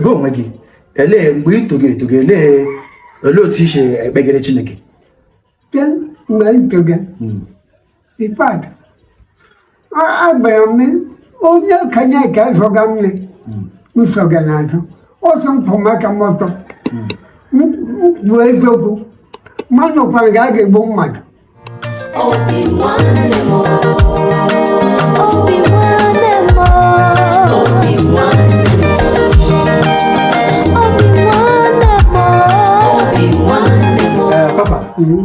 gị onwe gị elee mgbe ị togo etogo elee olee otu i si ekpegere chineke then mgbe anyị togo hmm. in fact agbara m onye okenye ka zọga nne hmm. nsọga na ajụ ọsọ mpụ maka mọtọ mkpu hmm. eziokwu mmadụ kwara ga a ga-egbu mmadụ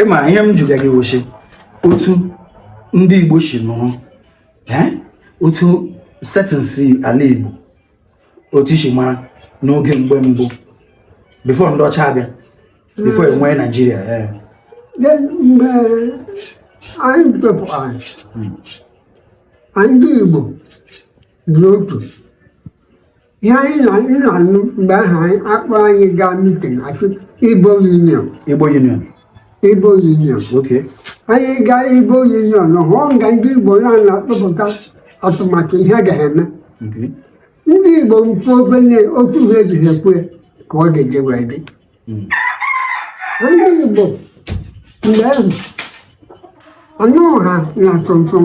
ị ma ihe m jụga gị wochi otu ndị Igbo si nọrọ otu settings ala Igbo otu i si mara n'oge mgbe mbụ before ndị ọcha abịa before e nwee Nigeria ee mgbe anyị topụtara ndị igbo dị otu ihe anyị na anyị na-anụ mgbe ahụ anyị akpọ anyị gaa meeting a sị igbo union igbo union igbo union okay anyị gaa igbo union hụọ nga ndị igbo na-akpọpụta atụmatụ ihe a ga-eme okay ndị igbo mkpu obele otu ha ejighị ekwe ka ọ ga-eji wee dị ndị Igbo mgbe ahụ anụ ha na tonton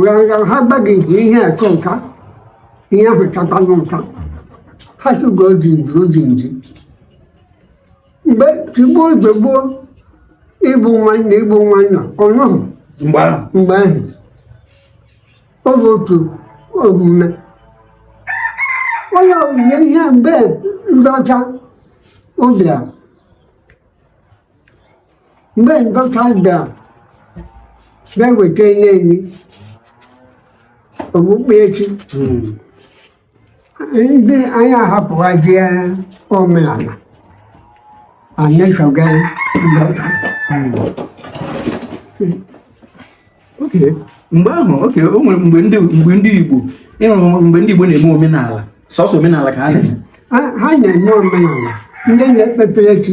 ha gbaghịzi ihe atụ nka ihe ahụ tatanụ nka ha tụgo ji nji oji nji mgbe tigbuo ozugbo ịbụ nwanne ịbụ nwanna ọnụhụ mgbe ahụ ọ bụ otu omume ụlọ omume ihe mgbe ndị ọcha bịa mgbe ndị ọcha bịa na-eweta nye anyị okpukpe chi ndị anyị ahapụghazie omenala anyị soga ndị ọcha okay mgbe ahụ okay o nwere mgbe ndị mgbe ndị Igbo ị hụrụ mgbe ndị Igbo na-eme omenala sọsọ omenala ka ha na-eme ha na-eme omenala ndị na-ekpepere chi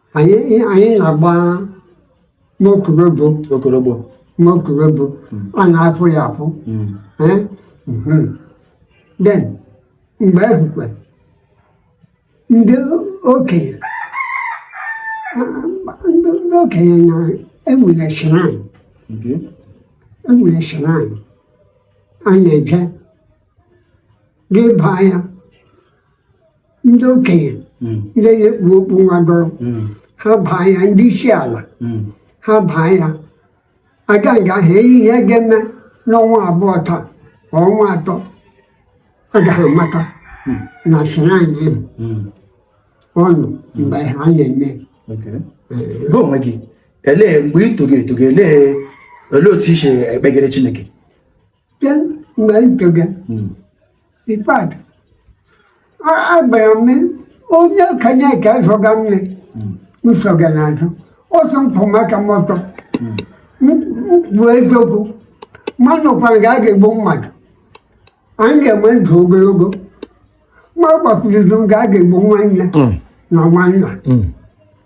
anyị anyị na-agba n'okorobụ okorobụ n'okorobụ hmm. a na-afụ ya afụ hmm. eh? mhm. then mgbe ahụ kwa ndị okenye ndị okenye na e nwere shrine e nwere shrine a na-eje gị baa ya ndị okenye hmm. ndị na-ekpu okpu nwagọrọ hmm. ha baa ya ndị isi ala hmm. ha baa ya a gaa nga ha eyi ihe ga-eme n'ọnwa abụọ taa ọnwa atọ agaghị amata na shrine ọnụ mgbe ha na-eme bụ onwe gị elee mgbe ị togo etogo elee otu i si ekpegere Chineke then mgbe m toge hmm. in fact a gwara m e onye okenye ka azọga mme hmm. nsọga na azụ ọsọ m kwụma aka m ọtọ hmm. m kwuo eziokwu m anọkwa nga a ga-egbu mmadụ anyị ga-enwe ndụ ogologo m agbakwuru izu nga a ga-egbu nwanne na nwanna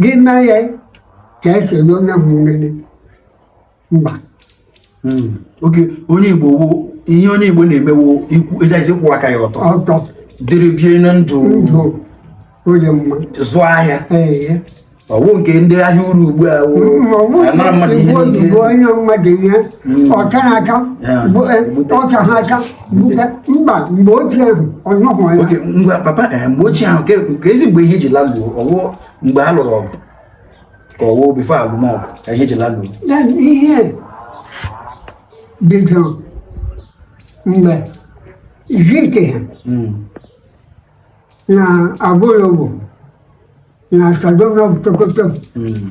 gị na ya ka esi enye onye ahụ nlele mba hmm. oke onye igbo wo ihe onye igbo na-emewo ikwu edaisi kwụ aka ya ọtọ ọtọ dịrị bie na ndụ ndụ onye ma azụ ahịa ọ wụ nke ndị ahịa uru ugbu a anara mmadụ ihe niile o nye mmadụ ihe hmm. ọcha na-acha ọcha ha acha mba mgbe ochie ahụ ọ nọghị ya oke ngwa papa eh, mgbe ochie ahụ kezi mgbe ihe ji laluo ọ wụ mgbe a lụrụ ọgụ ka ọ wụ before a lụma ọgụ ka ihe ji laluo ya ihe bidoro mgbe Zik ha Mm, na Awolowo na Sardauna of Sokoto mm,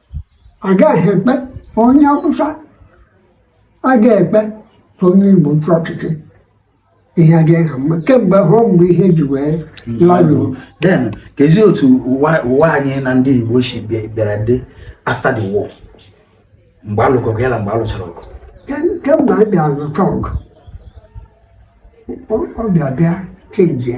agaghị ekwe onye Awụsa agaghị ekwe ka onye Igbo chịa ọchịchị ihe adịghị ha mma kemgbe ahụ mgbe ihe ji wee laluo then kezi otu ụwa anyị na ndị Igbo si bịara dị after the war mgbe a lụga ọgụ ya na mgbe a lụchara ọgụ kemgbe a bịa lụcha ọgụ ọ bịa bịa chenjie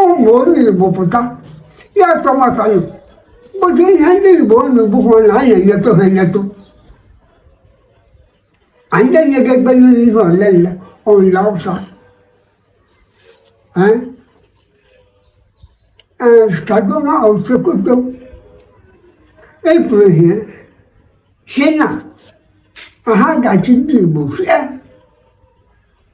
ụmụ onye Igbo pụta ya atọ maka nụ but ihe ndị Igbo unu bụkwụ na anyị enyetụ ha enyetụ anyị enyeghị ebe niile ihe ole nle onye Awụsa Sardauna of Sokoto kwuru ihe sị na ha ga-achị ndị Igbo sie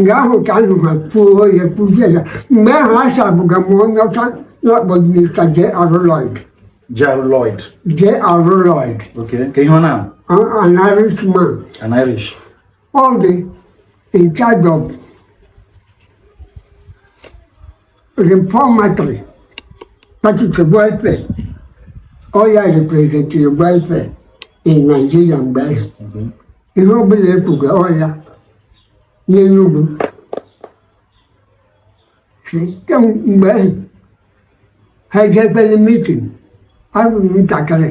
nga ahụ ka a nọrọ kwuo ya kwuzie ya mgbe ahụ aservụga m onye ọcha na-akpọ mista J.R. Lloyd J.R. Lloyd J.R. Lloyd okay ka ihe ọ na an Irishman an Irish ọ dị in charge of Reformatory, that is a welfare. Ọ ya representịrị welfare in Nigeria mgbe ahụ. Ihe ọ bụla e kwuga ọ ya n'Enugu. Si mgbe ahụ, ha jebere meeting, abụ m ntakịrị.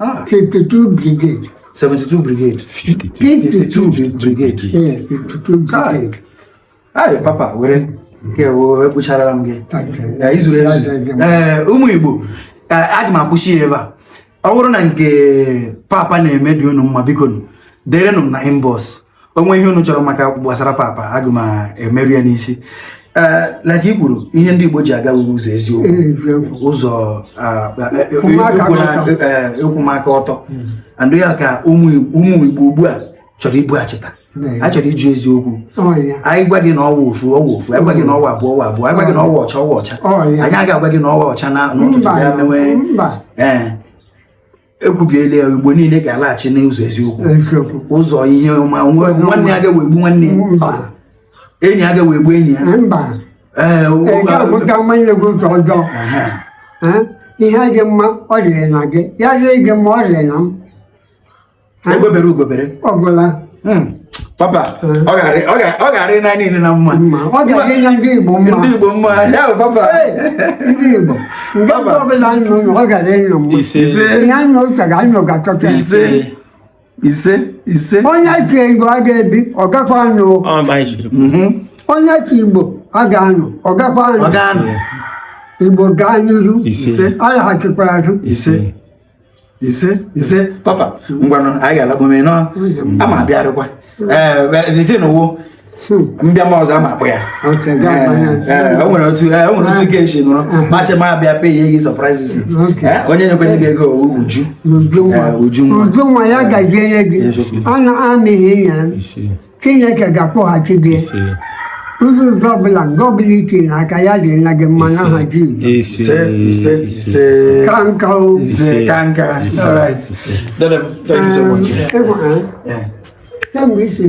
Ah. 52 brigade. 72 brigade. 52, 52 brigade. Yeah, 52 brigade. Ayi papa were nke wo ekpucharala m gị. I zuru ezu. Ee ụmụ Igbo aga m akwụsị ya ebe a. Ọ bụrụ na nke papa na-eme dị unu mma biko derenụ m na inbox. o nwee ihe unu chọrọ maka gbasara papa aga m emeru ya n'isi eh, like i kwuru ihe ndị Igbo ji aga ụzọ eziokwu ụzọ ịkwụma aka eh, ọtọ hmm. and ya ka ụmụ Igbo ugbu a chọrọ ibughachita anyị chọrọ ịjụ eziokwu anyị gwa gị na ọ wụ ofu ọ wụ ofu anyị gwa gị na ọ wụ abụọ ọ wụ abụọ anyị gwa gị na ọ wụ ọcha ọ wụ ọcha anyị agaghị agwa gị na ọ wụ ọcha na n'ụtụtụ ya mewe ee eh. ekwubiela ya igbo niile ga-alaghachi n'ụzọ eziokwu ụzọ ihe ọma nwanne agaghị egbu nwanne enyi agaghị egbu enyi ya mba ee ihe dị mma ọ dịrị na gị ya dịrị gị mma ọ dịrị na m egbe bere ugo bere ọ gwụla hmm. papa ọ ga-arị na niile na mma ndị Igbo mma ya bụ papa ndị Igbo ndị ọbụla nọ ọ ga-arị nọ mma ise ya nọ ụcha ga anọ ga-achọta ise ise ise onye sị igbo aga ebi ọ gakwa anọ mhm. onye sị igbo aga anọ ọ gakwa anọ igbo gaa n'iru alaghachikwara azụ ise ise papa ngwanụ anyị ga-alagbume nọ ama abịarịkwa ee n'ụwo mbịa ma ọzọ ama akpọ ya o nwere otu e ga esi nụrụ masị ma abịa pay gị surprise visit onye nyekwa nye gị ego uju uju nwa ya gaji enye gị ọ na-amịghị ya chineke ga-akwụghachi gị ụgwọ ụzọ ọbụla nke ọbụla i tinye aka ya dịrị gị mma n'aha Jizọs kemgbe isi